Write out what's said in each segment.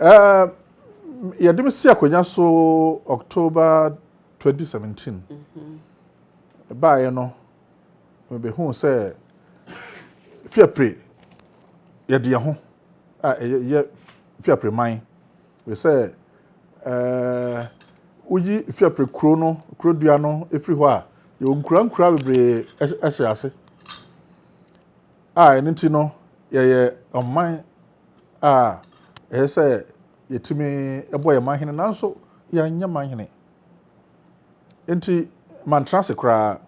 Uh, yɛde me si akonnwa so october 2017 baeɛ no mebɛhuu sɛ fiapre yɛde yɛ ho a ɛyɛ fiapre man Ɛfiri sɛ, woyi fiapre kuro no, kuro dua no firi hɔ a, yɛwɔ nkurankuraa bebree hyɛ ase. A ɛno nti no, yɛyɛ ɔman a ɛyɛ sɛ yɛtumi bɔ yɛn manhene nanso yɛnyɛ manhene. Nti, mantena ase koraa.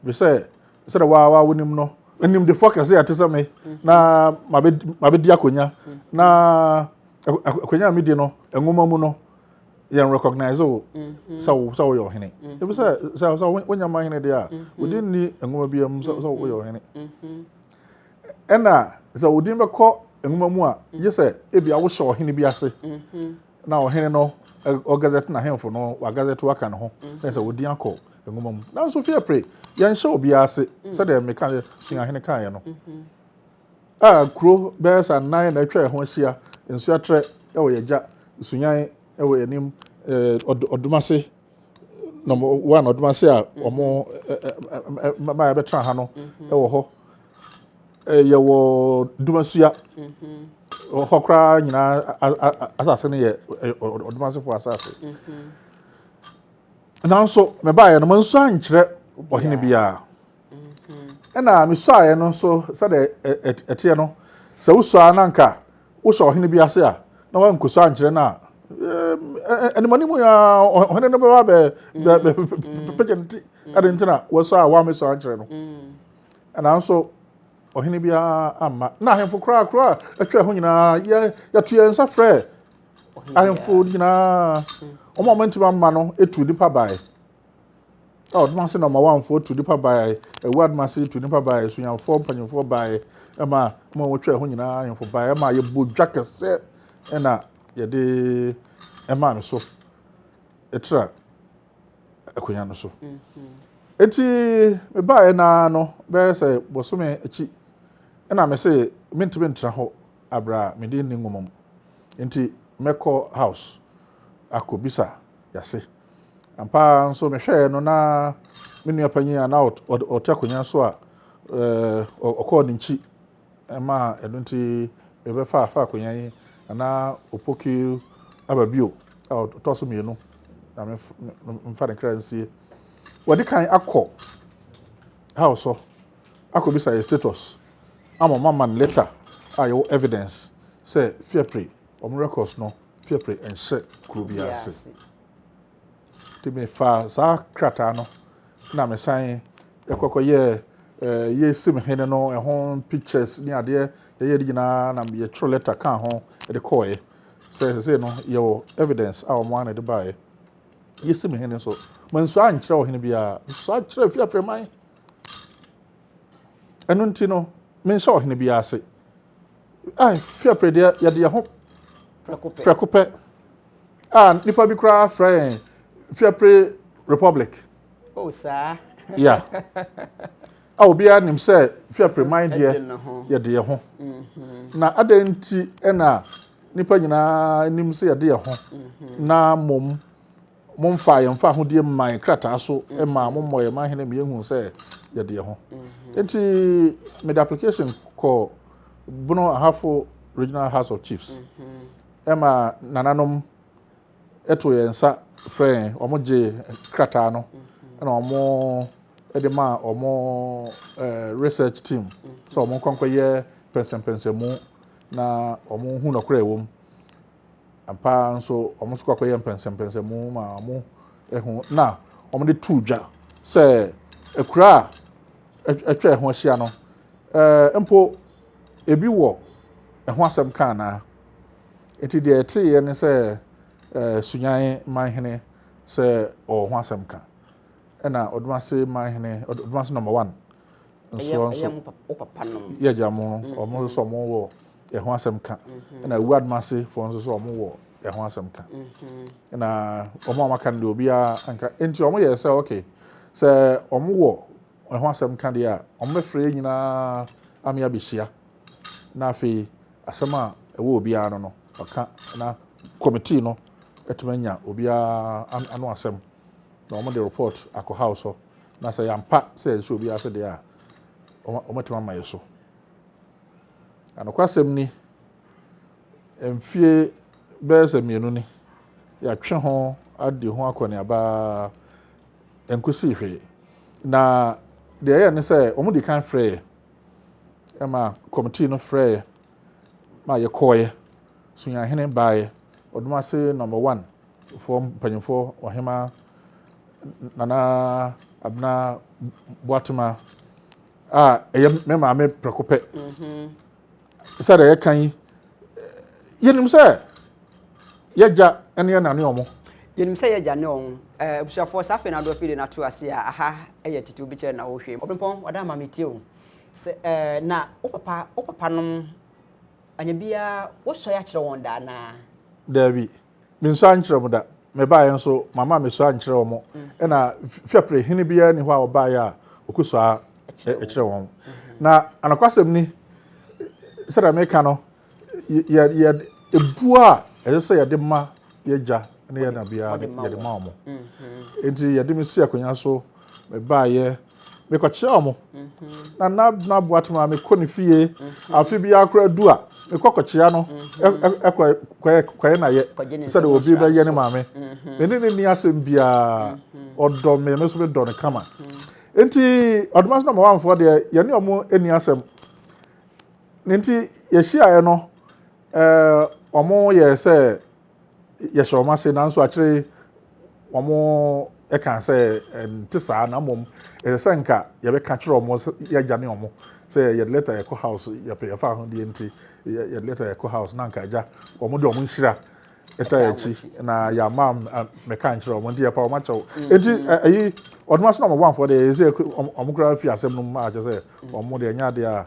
Efisɛ sɛdeɛ wo ara wonim no, animdefoɔ kɛse a ɛte sɛ me na mabɛdi akonnwa, na akonnwa a medi no, nwoma mu no, yɛn recognize wo mm-hmm. sɛ wo sɛ woyɛ ɔhene mm-hmm. ebi sɛ sɛ sɛ wonya ma hene deɛ a mm-hmm. wodi nni nwoma bi mu sɛ sɛ woyɛ ɔhene ɛna sɛ wodin bɛkɔ nwoma mu a yɛ sɛ ebi a wohyɛ ɔhene bi ase na ɔhene no ɔgazɛte n'ahemfo no wagazɛte waka ne ho na sɛ wɔdin akɔ nwoma mu nanso fie pere yɛnhyɛ obiara ase sɛdeɛ meka suahene kaeɛ no a kuro bɛyɛ sɛ anan na atwa ɛho ahyia nsuatrɛ wɔ yɛgya sunyan wɔ anim ɔdomase Number one, ɔdom ase a wɔn mmaa a yɛbɛtena ha no wɔ hɔ. Yɛwɔ Dumasua. Wɔ hɔ koraa nyinaa asase no yɛ ɔdom asefoɔ asase. Nanso, mebaeɛ no, mansu ankyerɛ ɔhene biara. Ɛna mesuaeɛ no nso sɛdeɛ ɛteɛ no, sɛ wosuaa no anka Wohyɛ ɔhene bi ase a, na wankɔsu ankyerɛ no a, animɔne mu a ɔhene no bɛba bɛpɛgya no ti ɛde nti na wɔsɔ a wɔamɛsɔ ankyerɛ no nanso ɔhene biara amma na ahemfo koraa koro a atwa ho nyinaa yɛto yɛn nsa frɛ ahemfo nyinaa wɔn a wɔntumi amma no etu nipa bae Ao Domase na ɔmawanfoɔ tu nnipa baeɛ, Awuraa Domase tu nnipa baeɛ, Sunyanifoɔ mpanyinfoɔ baeɛ, ɛma mo a wɔtwa ɛho nyinaa ahemfo baeɛ, ɛma yɛbɔ dwa kɛseɛ ɛna yɛde ɛmaa no so ɛtra akonnwa no so. Eti mebaeɛ naa no bɛyɛ sɛ bɔsome akyi ɛna mese mentumi ntra hɔ abra mede nni nwoma mu. Nti mɛkɔ house akɔbisa yɛase. Ampa ara nso mehwɛeɛ no na me nua panyin a na ɔte akonnwa so a ɔkɔɔ ne nkyi ma ɛno nti mebɛfa afa akonnwa yi na opoki aba bio a ɔtɔ so mmienu na mfa ne kra nsie. Wɔde kan akɔ how so akɔbisa yɛ status ama ɔma man letter a yɛwɔ evidence sɛ fiapre wɔn records no Fiapre nhyɛ kuro biara ase. Nti mefaa saa krataa no na mesan kɔkɔyɛɛ eh, yɛsim hene no ɛho pictures ne adeɛ yɛyɛ de nyinaa na yɛtwerɛ lɛta kaa ho de kɔɔeɛ sɛ sesei no yɛwɔ evidence a wɔn ana de baeɛ yɛsim hene nso mansuo ankyerɛ ɔhene biara nsuo akyerɛ fi aprɛman ɛno nti no menhyɛ ɔhene biara ase Ah, fi apere deɛ yɛde yɛn ho prɛko pɛ. Ah, nipa bi koraa frɛ yɛn fi apere republic. Oh, saa. Yeah. a obiara nim sɛ fi apere man deɛ yɛde yɛn ho. Mm-hmm. Na adɛn nti na nipa nyinaa nim sɛ yɛde yɛn ho mm-hmm. na mmom Momfa yɛn fahodie mma yɛn krataa so ma mommɔ yɛn ma hene ma yɛnhu sɛ yɛde yɛn ho. Nti mede application kɔ Bono Ahafo Regional House of Chiefs ɛma nananom ɛto yɛn nsa frɛ yɛn wɔn gye krataa no ɛna wɔn ɛde ma wɔn research team sɛ wɔn nkɔnkɔ yɛ pɛnsɛmpɛnsɛmu na wɔn hu nɔkorɛ wɔ mu. Ampa ara nso, wɔn nso kɔ akɔyɛ mpɛnsɛmpɛnsɛmu ma wɔn ho na wɔde too dwa sɛ akuraa a atwa ɛho ahyia no mpo ebi wɔ ɛho asɛm ka anaa. Enti deɛ ɛteeɛ ne sɛ Sunyan Manhene sɛ ɔwɔ ho asɛm ka, ɛna Ɔdomase Manhene, Ɔdomase number one, nsoɔ nso yɛ gya mo no wɔn mm-hmm. nso wɔn wɔ ɛho asɛm ka mm-hmm. ɛna ewu adumase fo nso so wɔn wɔ ɛho asɛm ka mm-hmm. ɛna wɔn a wɔaka no deɛ obiara anka nti wɔn yɛ sɛ okay sɛ wɔn wɔ ɛho asɛm ka deɛ a wɔn bɛfrɛ yɛn nyinaa ame abɛhyia na afei asɛm a ɛwɔ obiara no no ɔka na kɔmitii no ɛtumi anya obiara ano asɛm na wɔn de report akɔ house hɔ. na sɛ yɛampa sɛ yɛhyɛ obi ase deɛ a, wɔatumi ama yɛ so. Anokwasɛm ni, mfie bɛyɛ sɛ mmienu ni, yɛatwe ho adi ho akɔneaba nkosii hwee. Na deɛ ɛyɛ ne sɛ wɔn di kan frɛ yɛ, ɛma kɔmitii no frɛ yɛ ma yɛkɔɔeɛ, Sunyahene baeɛ, Ɔdomase number one foɔ mpanyinfoɔ ɔhema nana abena boatema a ɛyɛ me maame prɛko pɛ mhm. sɛ deɛ yɛka yi yɛnim sɛ yɛgya ne yɛ nane ɔmo yɛnim sɛ yɛgya ne ɔmo eh, abusuafoɔ saa afei no adoɔ fide no ato ase a aha ɛyɛ tete wobi kyerɛ na wohwɛ mu ɔbempɔn wada ama metie o sɛ eh, na wo papa wo papa nom anya biara wosɔe akyerɛ wɔn daa naa daabi Me nso ankyerɛ mo da. Mebaeɛ nso, mamma mesɔ ankyerɛ wɔn. Ɛna fiapre hene biara ni hɔ a ɔbaeɛ a ɔkɔsɔ a ɛkyerɛ wɔn. Na anokwasɛm ni, sɛdeɛ meka no, yɛ yɛ ebuo a ɛsɛ sɛ yɛde ma yɛ gya ne yɛ na biara yɛde ma wɔn. Nti yɛde me si akonnwa so, mebaeɛ. mekɔkyerɛ wɔn na na na aboa to ma mekɔ ne fie afe bi akora du a mekɔ kɔkyea no ɛkɔ kɔyɛ kɔyɛ na yɛ sɛ de obi bɛyɛ ne maame me ne ne ni asɛm biara ɔdɔ me me nso me dɔ no kama nti ɔdoma so na ma wanfoɔ deɛ yɛne wɔn ani asɛm ne nti yɛhyiaeɛ no ɛɛ wɔn yɛ sɛ yɛhyɛ wɔn ase nanso akyire wɔn kan sɛ ɛnte saa na mmom ɛsɛ sɛ nka yɛbɛka kyerɛ wɔn sɛ yɛagya ne wɔn sɛ yɛde lɛta yɛkɔ house yɛpɛ yɛfa ahodeɛ nti yɛde lɛta yɛkɔ house na nka agya wɔn de wɔn nhyira ɛta yɛ akyi na yɛama mɛka nkyerɛ wɔn nti yɛpa wɔn akyɛw mm-hmm. nti ɛyi ɔdoma so na wɔn bɔnfoɔ deɛ ɛsɛ wɔn koraa fi asɛm no mu a kyɛ sɛ wɔn deɛ ɛnyɛ adeɛ a